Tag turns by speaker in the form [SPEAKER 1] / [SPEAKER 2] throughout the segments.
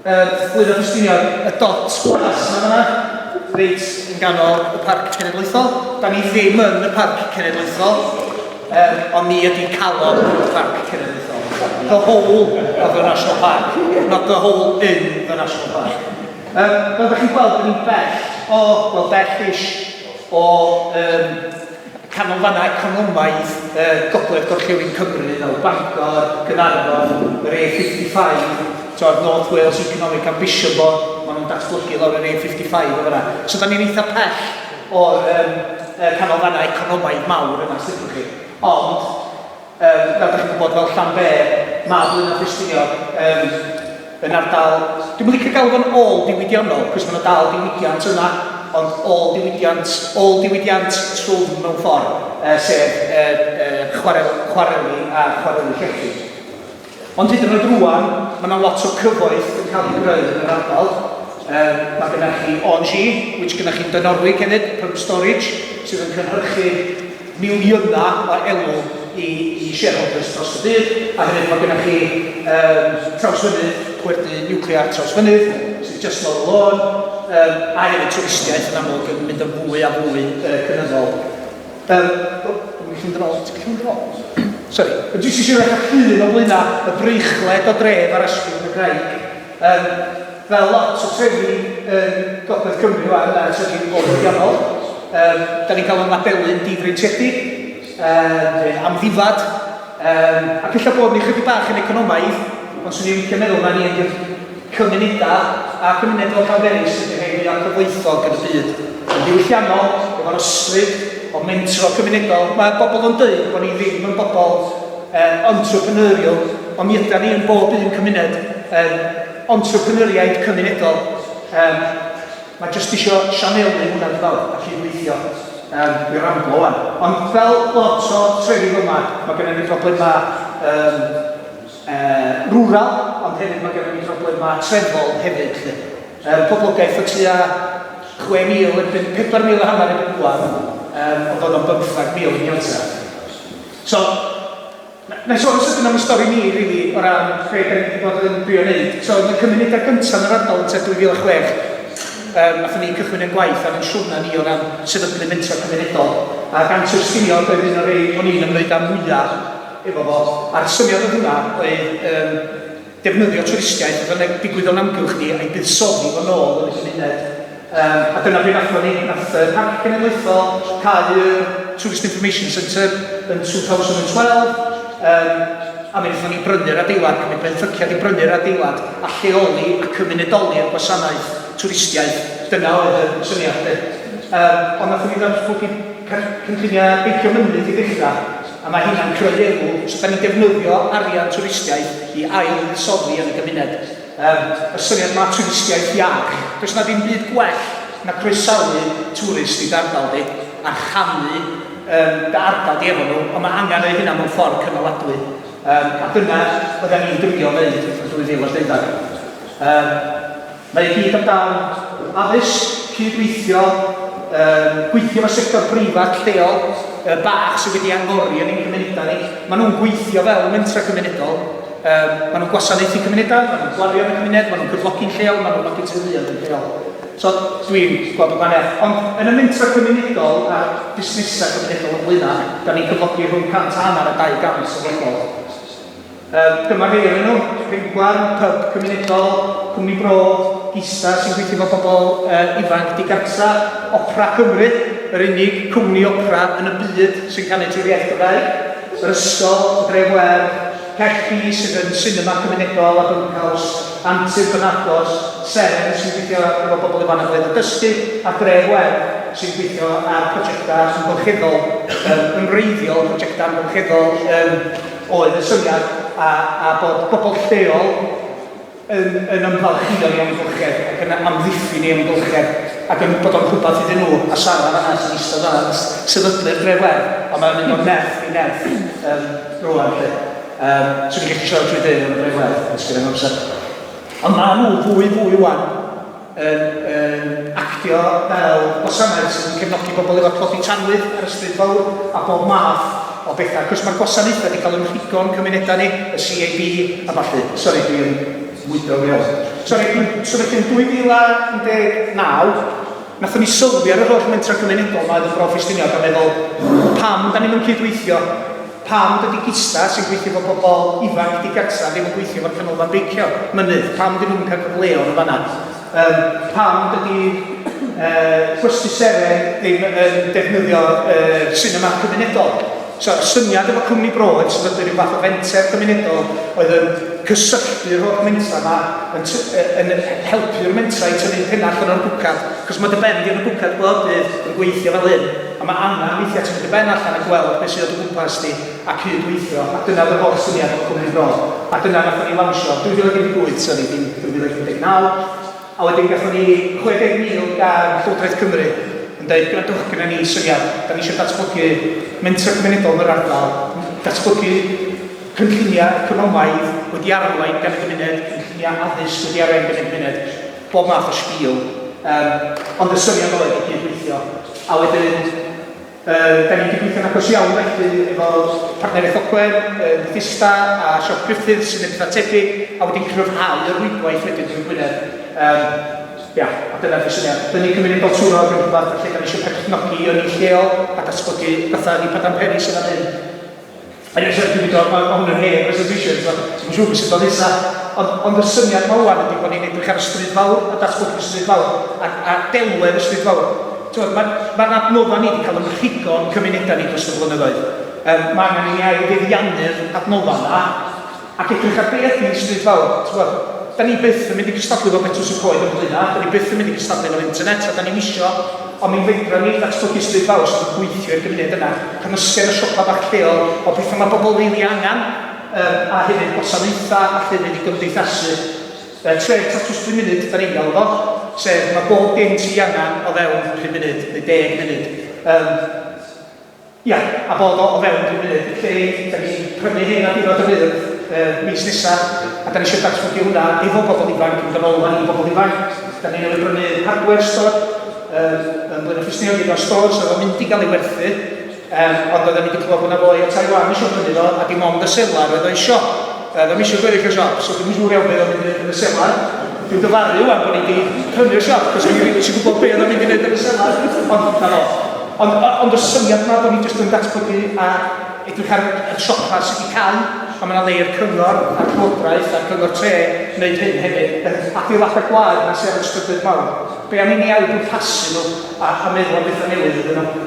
[SPEAKER 1] um, Blwyddyn Ffestiniog, y dot glas yma yna, reit yn ganol y parc cenedlaethol. Da ni ddim yn y parc cenedlaethol, um, ond ni ydy calon y parc cenedlaethol. The whole of the National Park, not the whole in the National Park. Um, fel da chi'n gweld, dyn ni'n bell o, wel, bell ish o um, canolfannau economaidd uh, gogledd gorllewin Cymru fel Bangor, Gynarfon, yr A55, to'r North Wales Economic Ambition Board, maen nhw'n datblygu lawr yr A55 o fyna. So da ni'n eitha pell o'r um, canolfannau economaidd mawr yna, sydd chi. Ond Yym, fel dach chi'n gwybod, fel Llanber, Maglyn a Ffestiniog, yym, yn ardal... Dwi'm yn licio galw fo'n ôl diwydiannol, cos mae yna dal diwydiant yna, ond ôl diwydiant, ôl diwydiant trwm mewn ffordd, uh, sef uh, uh, chwarel, chwareli a chwareli llechi. Ond hyd yn oed rwan, mae yna lot o cyfoeth yn cael ei greu yn yr ardal. Um, mae gennych chi OG, which gennych chi'n Dynorwig hefyd, Pump Storage, sydd yn cynhyrchu miliynau o elw i, i shareholders dros y byd, a hefyd mae gennych chi um, Trawsfynydd, pwerdy nuclear Trawsfynydd, sydd just lawr y lôn, um, a hefyd twristiaeth yn amlwg yn mynd yn fwy a fwy uh, cynyddol. Fel, o, dwi mynd i fynd yn ôl, ti'n gallu mynd yn ôl? Sori, dwi jyst eisiau edrych ar llun o flaena y breichwled o dref ar ysgwrn y graig. Yym, fel lot o trefi yn gogledd Cymru wan, mae trefi'n fwy digonol. Yym, da ni'n cael o'n labelu yn difreintiedig, yym, neu'n amddifad. Um, ac ella bod ni chydig bach yn economaidd, ond swn i'n licio meddwl na ni ydy'r cymunedau a cymuned o Llanberis ydy'r rhai fwyaf cyfoethog yn y byd. Yn ddiwylliannol, efo'r ysbryd o mentro cymunedol, mae bobl yn dweud bod ni ddim yn bobl um, entrepreneurial, ond mi yda ni yn bob un cymuned yn entrepreneuriaid cymunedol. Um, Mae jyst isio sianelu hwnna dwi fel a cydweithio. Yym dwi ramblo wan. Ond fel lot o trefydd yma mae gynna ni broblema yym yy rural ond hefyd mae gynna ni broblema trefol hefyd lly. Yym poblogaeth o tua 6000 erbyn 4000 a hanner erbyn rwan yym ond oedd o'n bymthag mil yn Ialta. So Na, na i sôn yn sydyn am y stori ni rili o ran be da ni wedi bod yn drio wneud. So yn y cymunedau gyntaf yn yr ardal yn tua 2006 um, athyn ni cychwyn yn gwaith ar ein siwrna ni o ran sefydlu mentor cymunedol a gant o'r sgilio oedd un o'r rei o'n i'n ymwneud â mwyaf efo fo a'r syniad oedd hwnna oedd um, defnyddio twristiaeth a fyddai'n digwydd o'n amgylch ni a'i buddsoddi fo'n ôl yn y cymuned. Yym, a dyna be wnaethon ni. Wnaeth y Parc Cenedlaethol cau y Tourist Information Centre yn 2012, yym, a mi wnaethon ni brynu'r adeilad, cymryd benthyciad i brynu'r adeilad, a lleoli a cymunedoli'r gwasanaeth twristiaeth. Dyna oedd y syniad 'lly. Yym, ond wnaethon ni ddatblygu cynlluniau beicio mynydd i ddechrau. A mae hynna'n creu elw, so dan ni'n defnyddio arian twristiaeth i ail-fuddsoddi yn y gymuned. Yym, y syniad yma o twristiaeth iach, does yna ddim byd gwell na croesawu twrist i dy ardal di, a rhannu yym dy ardal di efo nhw, ond mae angen wneud hynna mewn ffordd cynaladwy. Yym, a dyna bydden ni'n drio wneud yn 2012. Yym. Mae i gyd amdan addysg, cyd-weithio, yym, gweithio efo sector breifat lleol, yy, bach sydd wedi angori yn ein cymunedau ni. Maen nhw'n gweithio fel mentrau cymunedol, um, maen nhw'n gwasanaethu cymunedau, maen nhw'n gwario yn y cymuned, maen nhw'n cyflogi'n lleol, maen nhw'n nodi teuluoedd yn lleol. So, dwi'n gweld y gwahaniaeth. Ond yn y mentrau cymunedol a busnesau cymunedol yn flaenau, da ni'n cyflogi rhwng 100 a hanner a 200 o bobl. Um, dyma rhai o'r nhw, Rhengwarn, Pub Cymunedol, Cwmni Bro, Gisa sy'n gweithio fo bobl uh, ifanc digartra, Opera Cymru, yr unig cwmni opera yn y byd sy'n canu trwy'r iaith Gymraeg, yr ysgol, Dref Wer, Caerphi sydd yn sinema cymunedol a byncaws, Antur Bynagos, Seren sy'n gweithio efo bobl ifanc ble yn dysgu, a Dref Wer sy'n gweithio ar prosiectau amgylcheddol, um, yn wreiddiol prosiectau amgylcheddol um, oedd y syniad a, a bod bobl lleol yn, yn ymfalchïo'n ei amgylchedd ac yn amddiffyn ei amgylchedd ac yn bod o'n rhywbeth iddyn nhw. A Sara fanna sy'n eistedd fanna yn sefydlu'r drefwedd, ond mae'n mynd o nerth i nerth um, rwan lle. Um, so ni'n gallu siarad trwy ddeud am y drefwedd, os gyda'n amser. Ond maen nhw fwy fwy wan yn yn actio fel gwasanaeth sydd yn cefnogi pobl efo tlodi tanwydd ar y stryd fawr a bob math o bethau. Wrth gwrs mae'r gwasanaethau wedi cael eu rhigo yn cymunedau ni, y CAB a ballu. Sori dwi yn mwydro fi iawn. Sori dwi'n symud yn 2019 nathon ni sylwi ar yr holl mentrau cymunedol mae oedd yn Bro Ffestiniog a meddwl pam da ni'm yn cydweithio Pam dydi Gista, sy'n gweithio efo pobl ifanc digartref, ddim yn gweithio efo'r Canolfan Beicio Mynydd? Pam dyn nhw'm yn cael cyfleodd yn fan'na? Yym, pam dydi yy Clusty Seren ddim yn defnyddio yr sinema cymunedol? So, y syniad efo Cwmni Broad, sef fod yn rhyw fath o fenter cymunedol oedd yn cysylltu'r holl mentrau 'ma, yn t- yy yn helpu'r mentrau i tyfu'n pennach yn Nhrebucad, achos mae dy ben di yn Nhrebucad bob dydd yn gweithio fel hyn. A mae angen weithiau ti'n mynd i ben allan a gweld beth sydd o dy gwmpas di a cyd-weithio, a dyna oedd yr holl syniad efo Cwmni Bro. A dyna wnaethon ni lawnsio 2018, sori, dim 2019. A wedyn gaethon ni 60,000 gan Llywodraeth Cymru yn deud, gwrandwch, gynna ni syniad, da ni eisiau datblygu mentrau cymunedol yn yr ardal, datblygu cynlluniau economaidd wedi arwain gan y gymuned, cynlluniau addysg wedi arwain gan y gymuned. Pob math o spiel. Yym, ond y syniad oedd i gyd-weithio. A wedyn, yy, da ni wedi gweithio'n agos iawn felly efo partneriaeth Ogwen, yy, Bethesda a Siop Griffiths sy'n edrych ar tebyg, a wedi cryfhau y rwydwaith wedyn drwy Gwynedd. Yym, ia, a dyna di'r syniad. Dynnu cymuned Baltwrog yn rhywbeth lle da ni eisiau perchnogi ynni lleol a datblygu fatha Rhipadan Peris yn fan hyn. Yn y llyfr dwi'n dod, mae hwn yn hen resolution, so dwi'm yn siŵr beth sy'n dod nesa, ond, ond y syniad yma ŵan ydy bod ni'n edrych ar y stryd fawr, a datblygu stryd fawr, a, a delwedd y stryd fawr. Tywed, mae, mae'r adnoddau ni wedi cael yn rhugo yn cymunedau ni dros y blynyddoedd. Um, mae angen i ni ail fuddiannu'r adnoddau yna, Ac edrych ar beth fydd Stryd Fawr. Tibod, dan ni byth yn mynd i gystadlu efo Betws y Coed yn Blaenau, dan ni byth yn mynd i gystadlu efo'r internet, a dan ni'm isio, ond mi fedran ni ddatblygu Stryd Fawr sydd yn gweithio i'r gymuned yna, cymysgedd o siopa bach lleol, o bethau mae pobl rili angen, yym, a hefyd gwasanaethau a llefydd i gymdeithasu. Yy, tref tatws pum munud dan ni'n galw fo, sef mae bob dim ti angen o fewn pum munud, neu deg munud. Yym. Ia, a bod o o fewn rhyw fyd lle dan ni'n prynu hyn ar ddiwedd yr Urdd y mis nesa, a dan ni isio datblygu hwnna efo pobl ifanc, yn ganolfan i bobl ifanc. Dan ni newydd brynu hardware store yym yn Blaenau Ffestiniog, un o'r stores oedd o'n mynd i gael ei werthu, yym ond oedden ni 'di clywed bod 'na foi o Taiwan isio prynu fo, a dim ond y selar oedd o isio. Da ddim eisiau gweryll y siop, so dwi'n siŵr iawn beth oedd mynd yn y selar. Dwi'n dyfaru wan bod ni wedi prynu'r siop, cos dwi'n rili eisiau gwybod beth oedd mynd i wneud yn y selar. Ond, na fo. Ond, ond y syniad yma bod ni jyst yn datblygu a edrych ar y siopa sydd wedi cael, a mae yna lei'r cyngor a'r llywodraeth a'r cyngor tre wneud hyn hefyd, adeiladau gwaed yna sydd ar y strydoedd mawr. Be am i ni ail-bwrpasu nhw a, a meddwl am bethau newydd iddyn nhw?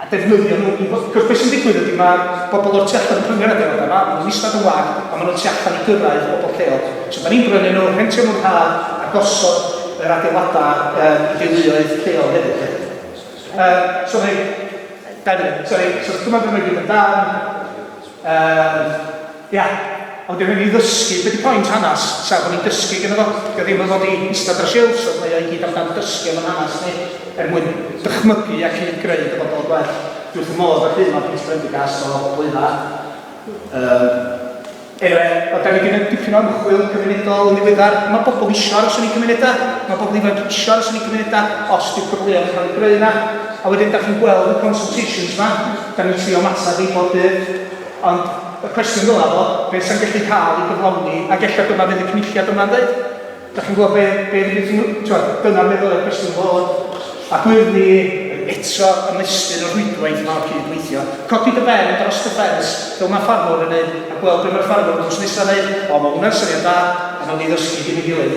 [SPEAKER 1] a defnyddio nhw i wbeth. Cos be sy'n digwydd ydy ma' bobl o'r tu allan yn prynu'r adeiladau yma, ma' nhw'n ista yn wag a ma' nhw tu allan i gyrraedd bobl lleol. So 'dan ni'n brynu nhw, rhentio nhw'n rhad a gosod yr adeiladau yym i deuluoedd lleol hefyd 'lly. Yym so mae... Dau funud, sori, so dyma be mae gyd amdan. Yym. Ia, ond dyw hynny i ddysgu, be di point hanas, sef bod ni'n dysgu gynno fo, dyw o ddim yn fod i ista dros shelves ond mae o i gyd am dan dysgu am yn hanas ni, er mwyn dychmygu a cyd greu dyfodol gwell. Dwi wrth fy modd â'r llun ma Pris Prendergast o Blaenau. Yym eniwe, wel 'da ni 'di neud dipyn o ymchwil cymunedol yn ddiweddar, ma' bobl isio aros yn eu cymunedau, ma' bobl ifanc isio aros yn eu cymunedau os 'di'r cyfleon yn cael eu greu 'na, a wedyn 'da chi'n gweld y consultations 'ma, 'da ni'n trio ymateb i bob dydd. Ond y cwestiwn ddylai fod, beth sy'n gallu cael ei gyflawni, ac ella dyna fydd y Cynulliad yma'n ddeud. Dach chi'n gwybod be, be rydych chi'n, tibod, dyna'r beth ddylai'r cwestiwn fod. Ac wyf ni yn eto ymestyn y rhwydwaith yma o cyd-weithio. Codi dy ben dros dy ffens, fel mae ffarmwr yn neud, a gweld be mae'r ffarmwr drws nesa'n neud. O, mae hwnna'n syniad da, a wnawn ni ddysgu gin ei gilydd.